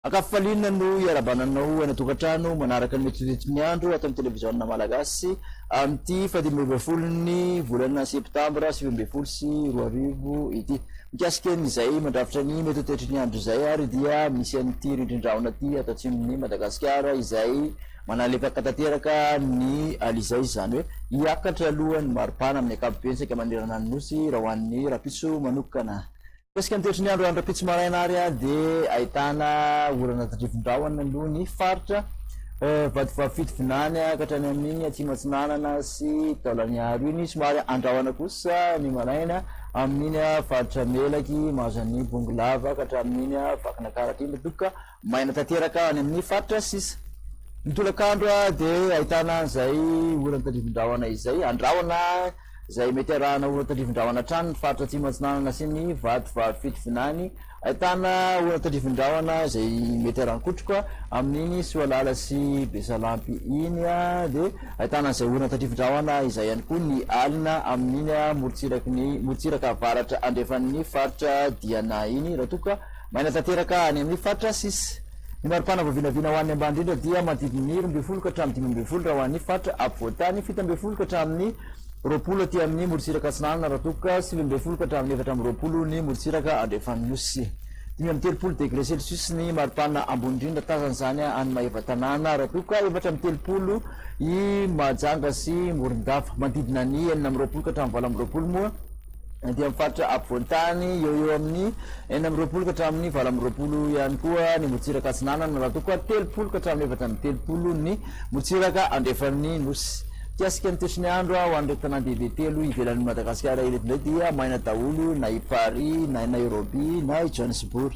Ankafifaliana no iarabana anao any an-tokantrano manaraka ny metsometsy ny andro ato amin'ny televiziona malagasy amin'ity fahadimy ambin'ny folo ny volana septambra sivy ambin'ny folo sy roa arivo ity. Mikasika ny izay mandrafitra ny mety ho toetry ny andro izay ary dia misy an'ity rindrin-drahona ity ato atsimon'i Madagasikara izay manalepaka tanteraka ny alizay izany hoe hiakatra aloha ny maripana amin'ny ankapobeny saika manerana ny Nosy raha ho an'ny rahampitso manokana. Mikasika ny toetry ny andro any rahampitso maraina ary dia ahitana orana tandrivindrahona aloha ny faritra Vatovavy-Fitovinany ka hatrany amin'iny Atsimo Atsinanana sy Taolagnaro iny somary andrahona kosa ny maraina Amin'iny faritra Melaky, Mahazan'ny Bongolava, ka hatramin'iny Vakinakaratra iny, doka maina tanteraka any amin'ny faritra sisa. Ny tolakandro dia ahitana an'izay oran'ny tandrifin-drahona izay, andrahona izay mety arahana oran'ny tandrifin-drahona hatrany ny faritra Atsimo Atsinanana sy ny Vatovavy Fitovinany, Ahitana olona tandrifindrahona izay mety harankotroka amin'iny Soalala sy Besalampy iny dia ahitana an'izay olona tandrifindrahona izay ihany koa ny alina amin'iny morontsiraky ny morontsiraka avaratra andrefan'ny faritra Diana iny raha toa ka maina tanteraka any amin'ny faritra sis Ny maripana voavinavina ho an'ny ambany indrindra dia manodidina ny roa ambin'ny folo ka hatramin'ny dimy ambin'ny folo raha ho an'ny faritra afovoan-tany fito ambin'ny folo ka hatramin'ny roapolo aty amin'ny morontsiraka atsinanana Ratokoka, sivy ambin'ny folo ka hatramin'ny efatra amby roapolo ny morontsiraka andrefan'ny Nosy. Dimy amby telopolo degre celsius ny maripanina ambony indrindra tazana izany any Maevatanàna Ratokoka, efatra amby telopolo i Mahajanga sy Morondava. Manodidina ny enina amby roapolo ka hatramin'ny valo amby roapolo moa. aty amin'ny faritra afovoan-tany eo eo amin'ny enina amby roapolo ka hatramin'ny valo amby roapolo ihany koa ny morontsiraka atsinanana raha toa koa telopolo ka hatramin'ny efatra amby telopolo ny morontsiraka andrefan'ny nosy mikasika ny toetry ny andro ho an'ireto tanàn-dehibe telo ivelan'i Madagasikara ireto indray dia maina daholo na i Paris na i Nairobi na i Johannesburg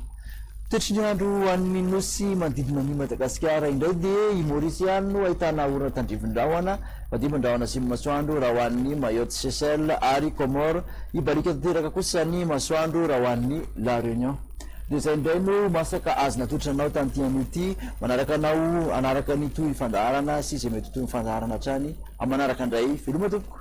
Toetry ny andro any amin'ny nosy manodidina an'I Madagasikara indray dia I Maurice ihany no ahitana orana tandrivindrahona, madimby ny rahona sy ny masoandro raha ho an'ny Mayotte, Seychelles ary Comores, hibaliaka tanteraka kosa ny masoandro raha ho an'ny La Réunion. Dia izay indray no masaka azo natotranao tamin'ity anio ity, manaraka anao hanaraka ny tohifandaharana sy izay mety ho tohifandaharana hatrany amin'ny manaraka indray, veloma tompoko.